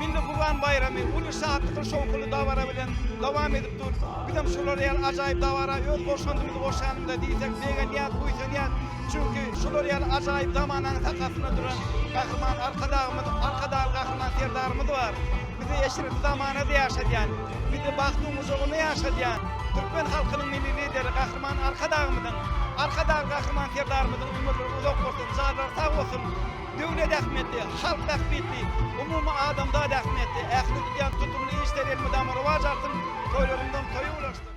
Milli Gurban baýramy uly şatlykly şowhunly dabara bilen dowam edip dur. Bizem şular ýaly ajaýyp dabara öz goşandymyzy goşýanymyza diýsek begenýäs, buýsanýas. Çünki şular ýaly ajaýyp zamananyň sakasynda duran Gahryman Arkadagymyz, Arkadagly Gahryman Serdarymyz bar. Bizi eşretli zamanada ýaşadýan, bizi bagtyň gujagynda ýaşadýan türkmen halkynyň Milli Lideri Gahryman Arkadagymyzyň, Arkadagly Gahryman Serdarymyzyň ömürleri uzak bolsun, jadylary sag bolsun! döwlet ähmiýetli, halk bähbitli, umumy adamzat ähmiýetli, ähli tutýan tutumly işleri elmydama rowaç alsyn, toýlarymyzyň toýy ulaşsyn!